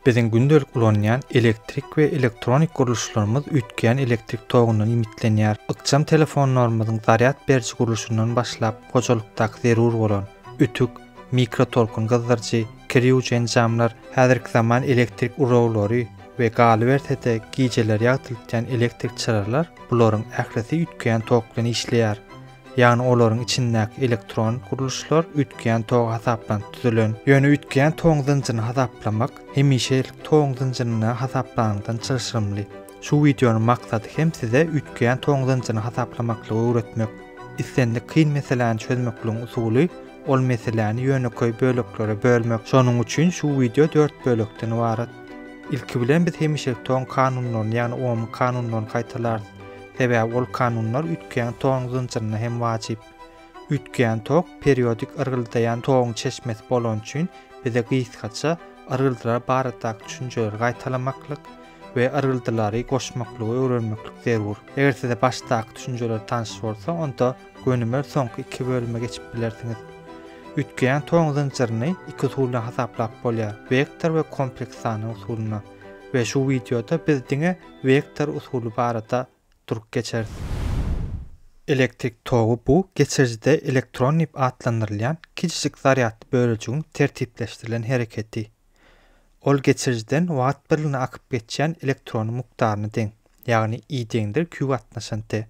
Biziň gündelik ulanýan elektrik we elektronik gurluşlarymyz üýtgeýän elektrik togyndan iýmitlenýär. Ykjam telefonlarymyzyň zarýad beriji gurluşyndan başlap, hojalykdaky zerur bolan, ütük, mikrotolkun gyzdyryjy, kir ýuwujy enjamlar, häzirki zaman elektrik uraglary we galyberse-de gijeler ýagtyltýan elektrik çyralar, bularyň ählisi üýtgeýän tok bilen işleýär. ýagny olaryň içindäki elektron gurluşlar üýtgeýän toga hasaplanyp düzülen. Ýöne üýtgeýän togyň zynjyryny hasaplamak hemişelik togyň zynjyryny hasaplanyňdan çylşyrymly. Şu wideonyň maksady hem size üýtgeýän togyň zynjyryny hasaplamaklygy öwretmek. Islendik kyn meseläni çözmekligiň usuly, ol meseläni ýönekeý böleklere bölmek. Şonuň üçin şu wideo dört bölekden ybarat. Ilki bilen biz hemişelik togyň kanunlaryny, ýagny ohmyň kanunlaryny gaýtalarys. Sebäbi ol kanunlar üýtgeýän toguň zynjyryna hem wajyp. Üýtgeýän tok periodik yrgyldaýan toguň çeşmesi bolany üçin bize gysgaça yrgyldylar baradaky düşünjeleri gaýtalamaklyk we yrgyldylary goşmaklygy öwrenmeklik zerur. Eger size başdaky düşünjeler tanyş bolsa, onda gönümel soňky iki bölüme geçip bilersiňiz. Üýtgeýän toguň zynjyryny iki usul bilen hasaplap bolýar, wektor we kompleks sany usulynda. We şu wideoda biz diňe Wektor usuly barada durup geçeris. Elektrik togy bu geçirijide elektron diýip atlandyrylýan kiçijik zarýadly bölejigiň tertipleşdirilen hereketi. Ol geçirijiden wagt birligine akyp geçýän elektronyň mukdaryna deň, ýagny i deňdir q gatnaşan t.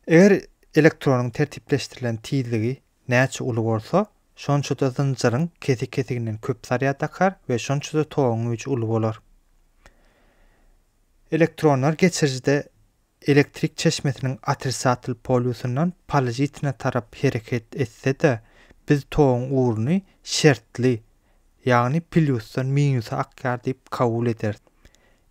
Eger elektronyň tertipleşdirilen tizligi Näçe uly bolsa, şonça-da zynjyryň kesik-kesiginden köp zarýad akar we şonça-da toguň güýji uly bolar. Elektronlar geçirijide elektrik çeşmesiniň otrisatel polýusyndan pozitina tarap hereket etse-de, biz toguň ugruny şertli, ýagny plýusdan minusa akýar diýip kabul ederis.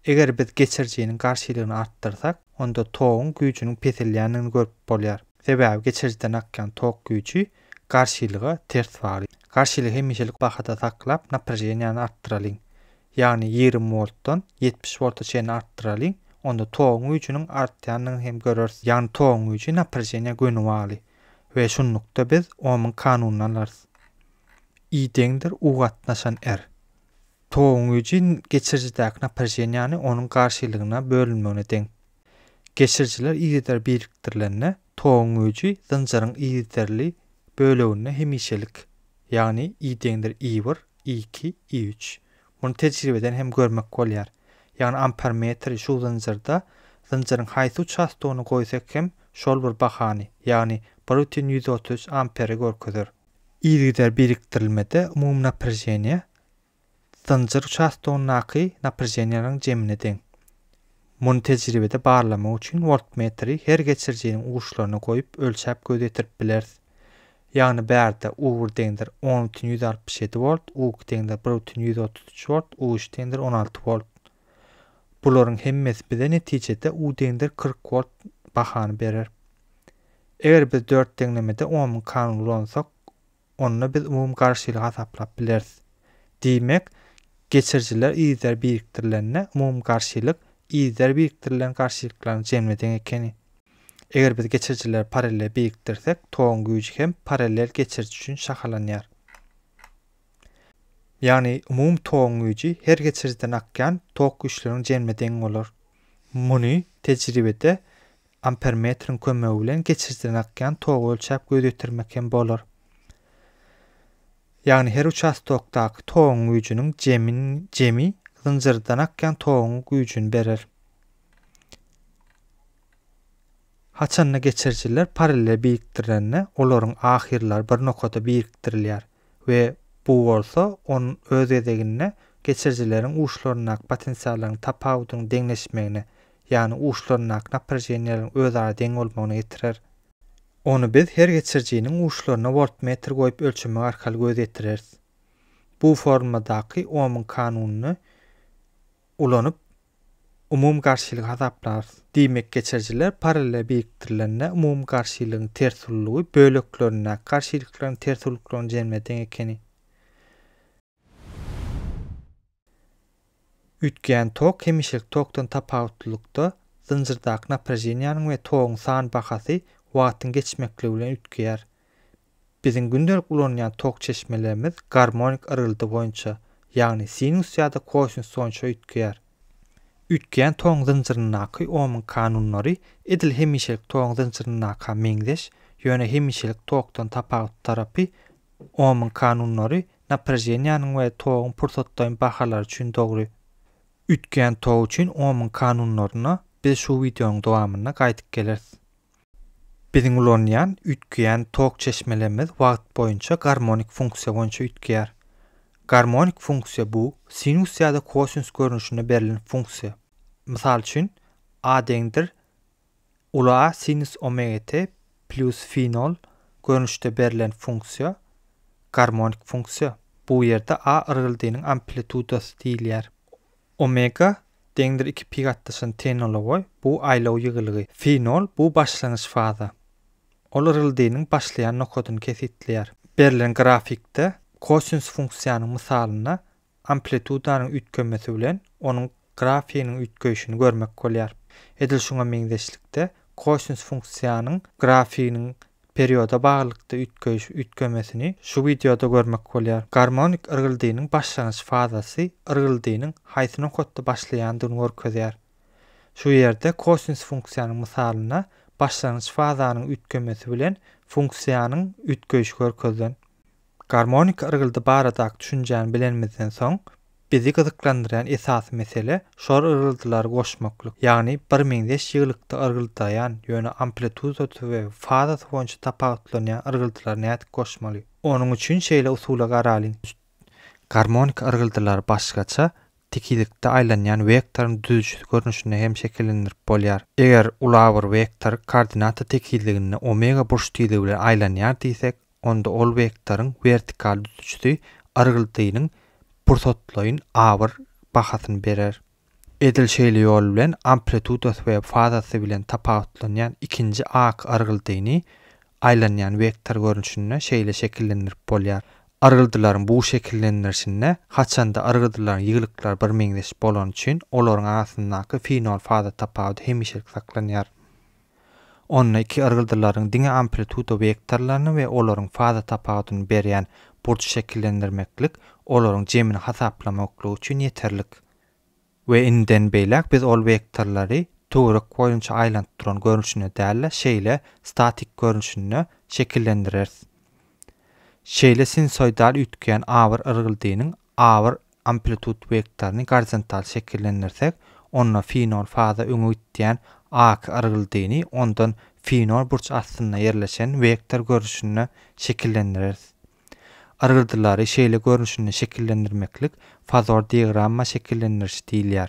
Eger biz geçirijiniň garşylygyny artdyrsak, onda toguň güýjüniň peselýändigini görüp bolýar. Sebäbi geçirijiden akýan tok güýji garşylyga ters bagly. Garşylygy hemişelik bahada saklap, naprejeniýany artdyralyň. Ýagny ýigrimi woltdan ýetmiş wolta çenli artdyralyň, onda toguň güýjüniň artýandygyny hem göreris. Ýagny toguň güýji naprejeniýa göni bagly we şunlukda biz Omyň kanunyny alarys, I deňdir U gatnaşan R. Toguň güýji geçirijidäki naprejeniýany onuň garşylygyna bölünmegine deň. Geçirijiler yzygider birikdirilende, toguň güýji zynjyryň yzygiderli böleginde hemişelik, ýagny I deňdir I bir, I iki, I üç. Muny tejribeden hem görmek bolýar. Ýagny ampermetri şu zynjyrda zynjyryň haýsy uçastogyny goýsak hem şol bir bahany, ýagny bir bütin ýüz otuz üç amperi görkezer. Yzygider birikdirilmede umumy naprejeniýe zynjyr uçastogyndaky naprjeniýanyň jemine deň. Muny tejribede barlamak üçin woltmetri her geçirijiniň uçlaryna goýup ölçäp göz ýetirip bileris. Ýagny bärde U bir deňdir on bütin ýüz altmyş ýedi wolt, U iki deňdir bir bütin ýüz otuz üç wolt, U üç deňdir on alty wolt. Bularyň hemmesi bize netijede U deňdir kyrk wolt bahany berer. Eger biz dört deňlemede ohmyň kanuny ulansak, onda biz umumy garşylygy hasaplap bileris. Diýmek, geçirijiler yzlar birikdirilende umumy garşylyk yzlar birikdirilen garşylyklaryň jemine deň ekeni. Eger biz geçirijileri parallel birikdirsek, toguň güýji hem parallel geçiriji üçin şahalanýar. Ýagny umumy toguň güýji her geçirijiden akýan tok güýçleriň jemine deň bolar. Muny tejribede Ampermetriň kömegi bilen geçirijiden akýan togy ölçäp göz ýetirmek hem bolar. Ýagny her uçastokdaky toguň güýjüniň jemin jemi zynjyrdan akýan toguň güýjüni berer. Haçanda geçirijiler parallel birikdirilende olaryň ahyrlary bir nokada birikdirilýär. we bu bolsa onuň öz gezeginde geçirijileriň uçlaryndaky potensiallaryň tapawudynyň deňleşmegine, ýagny uçlaryndaky naprejeniýeleriň özara deň bolmagyna getirer. Ony biz her geçirijiniň uçlaryna woltmetr goýup ölçemek arkaly göz ýetireris. Bu formuladaky Omyň kanunyny ulanyp, umumygarşylygy hasaplarys. Diýmek, geçirijiler parallel birikdirilende umumygarşylygyň ters ulylygy böleklerindäki garşylyklaryň ters ulylyklarynyň jemine deň ekeni. Üýtgeýän tok hemişelik tokdan tapawutlylykda, zynjyrdaky naprajeniýanyň we toguň san bahasy wagtyň geçmekligi bilen üýtgeýär. Biziň gündelik ulanýan tok çeşmelerimiz garmonik yrgyldy boýunça, ýagny sinus ýa-da kosinus boýunça üýtgeýär. Üýtgeýän toguň zynjyryndaky Omyň kanunlary edil hemişelik toguň zynjyryndaka meňzeş, ýöne hemişelik tokdan tapawutly tarapy, Omyň kanunlary napraženiýanyň we toguň pursatlaýyn bahalary üçin dogry. Üýtgeýän tok üçin Omyň kanunlaryna biz şu wideonyň dowamynda gaýdyp geleris. Biziň ulanýan, üýtgeýän tok çeşmelerimiz wagt boýunça garmonik funksiýa boýunça üýtgeýär. Garmonik funksiýa bu sinus ýa-da kosinus görnüşinde berlen funksiýa. Mysal üçin, A deňdir uly A sinus omega t plyus fi nol görnüşde berlen funksiýa garmonik funksiýa. Bu ýerde A yrgyldynyň amplitudasy diýilýär. Omega, deňdir iki pi gatnaşan tenologoý, bu aýlaw ýygylygy. Fenol, bu başlangyç faza. Ol yryldynyň başlaýan nokadyny kesgitleýär. Berlen grafikde kosinus funksiýanyň mysalynda amplitudanyň üýtgemesi bilen onuň grafiginiň üýtgeýşini görmek bolýar. Edil şuňa meňzeşlikde, kosinus funksiýanyň grafiginiň Perioda baglylykda üýtgeýiş üýtgemesini şu wideoda görmek bolýar. Garmonik yrgyldynyň başlangyç fazasy yrgyldynyň haýsy nokatda başlaýandygyny görkezýär. Şu ýerde kosinus funksiýanyň mysalynda başlangyç fazanyň üýtgemesi bilen funksiýanyň üýtgeýişi görkezilen. Garmonik yrgyldy baradaky düşünjäni bilenimizden soň, bizi gyzyklandyrýan esasy mesele şor yrgyldylary goşmaklyk, ýagny birmeňzeş ýygylykda yrgyldaýan, ýöne amplitudasy we fazasy boýunça tapawutlanýan yrgyldylary nädip goşmaly? Onuň üçin şeýle usula garalyň. Garmonik yrgyldylary başgaça, dikilikde aýlanýan wektoryň düzüjisi görnüşinde hem şekillendirip bolýar. Eger ulabir wektor koordinata tekizliginde omega burçtizligi bilen aýlanýar diýsek, onda ol wektoryň wertikal düzüjisi argyldynyň pursatlaýyn abyr bahasyny berer. Edil şeýle ýol bilen amplitudasy we fazasy bilen tapawutlanýan ikinji ak argyldyny aýlanýan wektor görnüşinde şeýle şekillendirip bolýar. Argyldylaryň bu şekillendirişinde haçanda argydylaryň ýygylyklary birmeňzeş bolany üçin olaryň arasyndaky finol-faza tapawudy hemişelik saklanýar. Onda iki yrgyldylaryň diňe amplituda wektorlaryny we olaryň faza tapawudyny berýän burç şekillendirmeklik olaryň jemini hasaplamaklyk üçin ýeterlik. We indiden beýläk biz ol wektorlary töwerek boýunça aýlanyp duran görnüşinde däl-de, şeýle statik görnüşinde şekillendireris. Şeýle sinusoidal üýtgeýän A bir yrgyldynyň Agyr amplitut wektoryny gorizontal şekillendirsek, onda fenol faza öňe gitýän aky yrgyldyny ondan fenol burç astynda ýerleşen wektor görnüşinde şekillendireris. Yrgyldylary şeýle görnüşinde şekillendirmeklik fazor diagramma şekillendiriş diýilýär.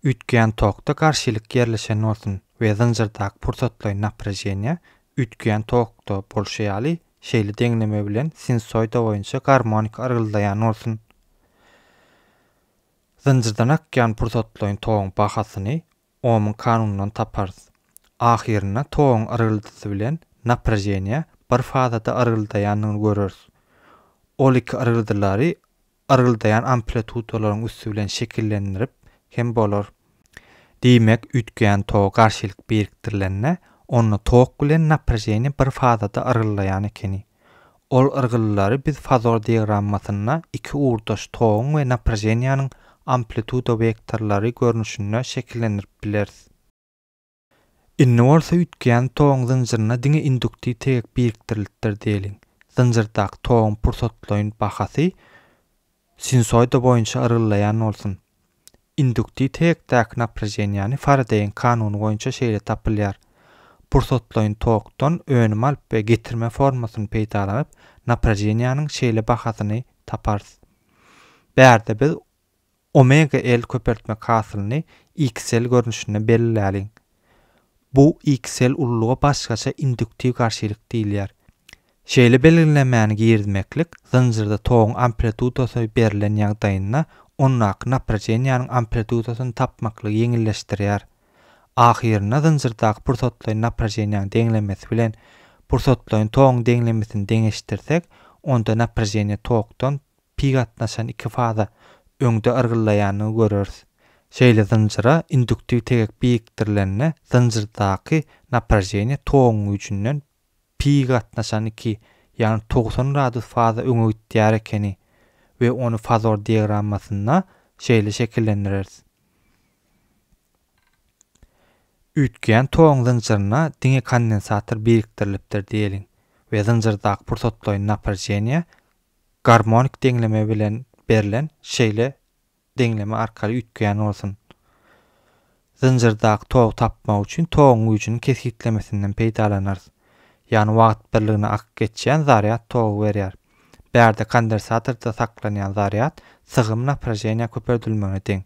Üýtgeýän tokda garşylyk ýerleşen bolsun we zynjyrdaky pursatlaýyn naprejeniýa üýtgeýän tokda bolşy ýaly şeýle deňleme bilen sinusoida boýunça garmonik yrgyldaýan bolsun. Zynjyrdan akýan pursatlaýyn toguň bahasyny Omyň kanunyndan taparys. Ahyrynda toguň yrgyldysy bilen naprejeniýa bir fazada yrgyldaýandygyny göreris. Ol iki yrgyldylary yrgyldaýan amplitudalaryň üsti bilen şekillendirip hem bolar. Diýmek, üýtgeýän toga garşylyk birikdirilende, onda tok bilen naprejeniýe bir fazada yrgyldaýan ekeni. Ol yrgylylary biz fazor diagrammasynda iki ugurdaş toguň we naprejeniýäniň amplituda wektorlary görnüşinde şekillendirip bileris. Indi bolsa üýtgeýän toguň zynjyryna diňe induktiw tegek birikdirilipdir diýeliň. Zynjyrdaky toguň pursatlaýyn bahasy sinusoida boýunça yrgyldaýan bolsun. Induktiw tegekdäki naprajeniýäni Faradeýiň kanuny boýunça şeýle tapylýar. Pursatlaýyn tokdan önüm alyp we getirme formasyny peýdalanyp, naprajeniýäniň şeýle bahasyny taparys. Bärde biz Omega L köpeltmek hasylyny XL görnüşinde belläliň. Bu XL ulluga başgaça induktiw garşylyk diýilýär. Şeýle belgilemäni girizmeklik zynjyrda toguň amplitudasy berlen ýagdaýynda ondaky naprajeniýäniň amplitudasyny tapmaklygy ýeňilleşdirýär. Ahyrynda zynjyrdaky pursatlaýyn naprajeniýäň deňlemesi bilen pursatlaýyn toguň deňlemesini deňeşdirsek, onda naprajeniýe tokdan pi gatnaşan iki faza öňde yrgyllaýanyny göreris. Şeýle zynjyra induktiw tegek birikdirilende zynjyrdaky naprajeniýe toguň güýjünden pi gatnaşan iki, ýagny togsan gradus faza öňe gitýär ekeni we ony fazor diagrammasynda şeýle şekillendireris. Üýtgeýän toguň zynjyryna diňe kondensator birikdirilipdir diýeliň we zynjyrdaky pursatlaýyn naprajeniýe garmonik deňleme bilen berlen şeýle deňleme arkaly üýtgeýän bolsun. Zynjyrdaky togy tapmak üçin toguň güýjüniň kesgitlemesinden peýdalanarys. Ýagny wagt birligine akyp geçýän zarýad togy berýär. Bärde kondensatorda saklanýan zarýad sygym napraženiýa köpeldilmegine deň.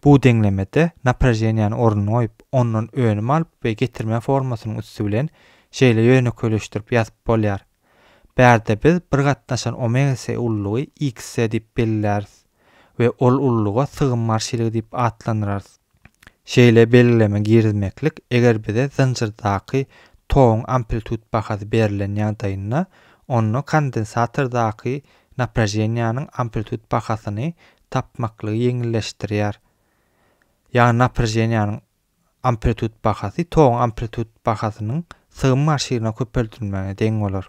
Bu deňlemede napraženiýany ornuny goýup, ondan önüm alyp we getirme formasynyň üsti bilen şeýle ýönekeýleşdirip ýazyp bolýar. Bärde biz bir gatnaşan omega-C ululygy X-C diýip belleýäris we ol ululyga sygym marşilygy diýip atlandyrarys. Şeýle belgileme girizmeklik, eger bize zynjyrdaky toguň amplitud bahasy berlen ýagdaýynda, onda kondensatordaky napraženiýanyň amplitud bahasyny tapmaklygy ýeňilleşdirýär. Ýagny naprjeniýanyň amplitud bahasy toguň amplitud bahasynyň sygym marşirine köpeldilmegine deň bolar.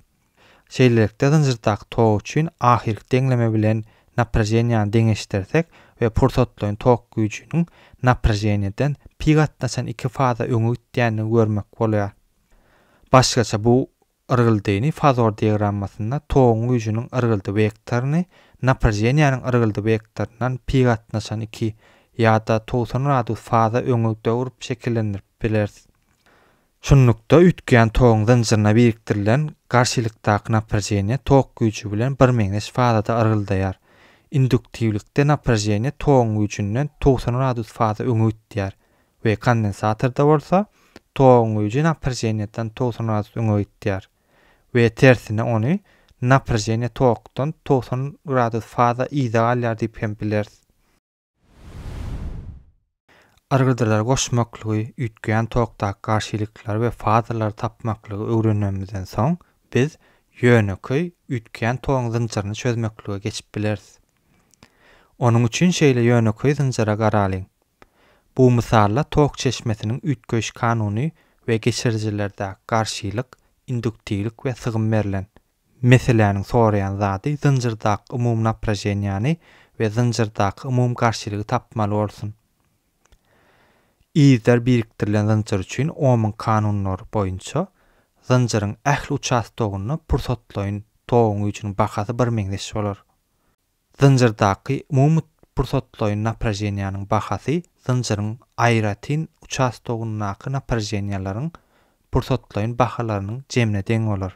Şeýlelikde zynjyrdaky tok üçin ahyrky deňleme bilen naprjeniýany deňeşdirsek we pursatlaýyn tok güýjüniň naprjeniýadan pi gatnaşan iki faza öňe gitýändigini görmek bolýar. Başgaça bu Yrgyldyny fazor diagrammasynda toguň güýjüniň yrgyldy wektoryny naprjeniýäniň yrgyldy wektoryndan pi gatnaşan iki ýa-da togsan gradus faza öňegde urup şekillendirip bileris. Şunlukda, üýtgeýän toguň zynjyryna birikdirilen garşylykdaky naprjeniýe tok güýji bilen birmeňzeş fazada yrgyldaýar. Induktiwlikde naprjeniýe toguň güýjünden togsan gradus faza öňe gitýär. we kondensatorda bolsa toguň güýji naprženýeden togsan gradus öňe gitýär we tersine ony naprženýe tokdan togsan gradus faza yza galýar diýip hem bileris. Yrgydylary goşmaklygy, üýtgeýän tokdaky garşylyklary we fazalary tapmaklygy öwrenmemizden soň biz ýönekeý üýtgeýän toguň zynjyryny çözmeklige geçip bileris. Onuň üçin şeýle ýönekeý zynjyra garalyň. Bu mysalla tok çeşmesiniň üýtgeýiş kanuny we geçirijilerdäki garşylyk, induktiwlik we sygym berlen. Meseläniň soraýan zady zynjyrdaky umumy napraženiýany we zynjyrdaky umumy garşylygy tapmaly bolsun. Yzlar birikdirilen zynjyr üçin Omyň kanunlary boýunça zynjyryň ähli uçastogynda pursatlaýyn toguň güýjüniň bahasy birmeňzeş bolar. Zynjyrdaky umumy pursatlaýyn napraženiýanyň bahasy zynjyryň aýratyn uçastogyndaky napraženiýalaryň pursatlaýyn bahalarynyň jemine deň bolar.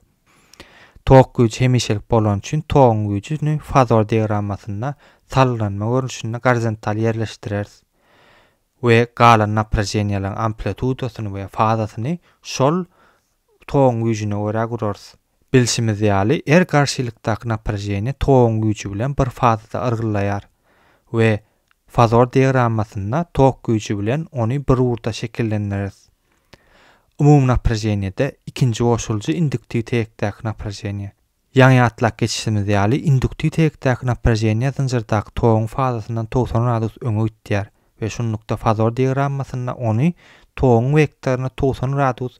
Tok güýji hemişelik bolany üçin toguň güýjüni fazor diagrammasynda salgylanma görnüşinde gorizontal ýerleşdireris we galan napraženiýalaryň amplitudasyny we fazasyny şol toguň güýjüne görä gurarys. Bilşimiz ýaly, er garşylykdaky naprajeniýa toguň güýji bilen bir fazada yrgyllaýar we Fazor diagrammasynda tok güýji bilen ony bir ugurda şekillendireris. Umumynaprajeniýede ikinji goşulyjy induktiw teýekdäki naprajeniýa. Ýaňy ýatlap geçişimiz ýaly, induktiw teýekdäki naprajeniýa zynjyrdaky toguň fazasyndan togsan gradus öňe gitýär we şunlukda fazor diagrammasynda ony toguň wektoryny togsan gradus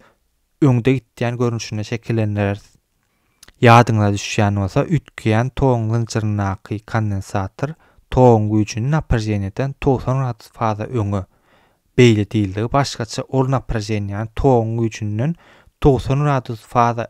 öňde gitýän görnüşinde şekillendireris. Ýadyňyza düşýän bolsa, üýtgeýän toguň zynjyryndaky kondensator toguň güýjüni naprajeniýadan togsan gradus faza öňe, beýle diýildigi başgaça, ol naprajeniýany toguň güýjünden togsan gradus faza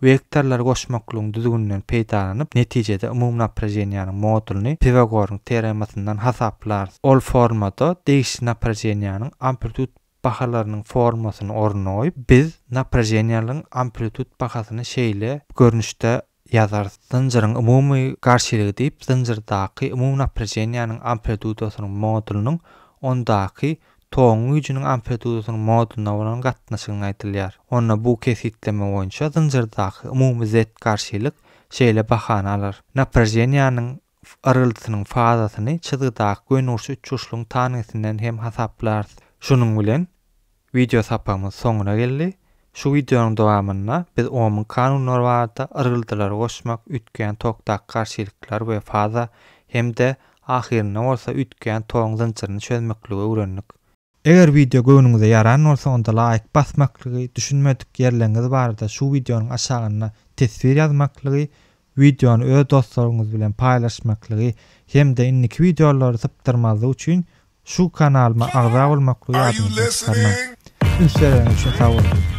Wektorlary goşmaklygyň düzgüninden peýdalanyp, netijede umumy naprajeniýäniň modulyny Piwagoryň teoremasyndan hasaplarys. Ol formada degişli naprajeniýäniň amplitud bahalarynyň formasyny ornuna goýup, biz naprajeniýalygyň amplitud bahasyny şeýle görnüşde ýazarys. Zynjyryň umumy garşylygy diýip, zynjyrdaky umumy naprajeniýäniň amplidudasynyň modulynyň ondaky Togyň güýjüniň amplitudasynyň moduna bolan gatnaşygyny aýdylýar. Onda bu kesgitleme boýunça zynjyrdaky umumy zed garşylyk şeýle bahany alar, napraženiýanyň yrgyldysynyň fazasyny çyzgydaky gönüurç üçburçlugyň tangisinden hem hasaplarys. Şunuň bilen wideo sapagymyz soňuna geldi. Şu wideonyň dowamynda biz ohmyň kanunlary barada, yrgyldylary goşmak, üýtgeýän tokdaky garşylyklar we faza hem-de Ahyrynda bolsa üýtgän toň zynjyryny çözmekligi öwrendik. Eger wideo göwnüňize ýaran bolsa onda laýk basmaklygy, düşünmedik ýerleriňiz barada şu wideonyň aşagynda teswir ýazmaklygy, wideony öz dostlaryňyz bilen paýlaşmaklygy hem-de indiki wideolary sypdyrmazlyk üçin şu kanalyma agza bolmaklygy ýadyňyzdan çykarmaň. Üns bereniňiz üçin sag boluň.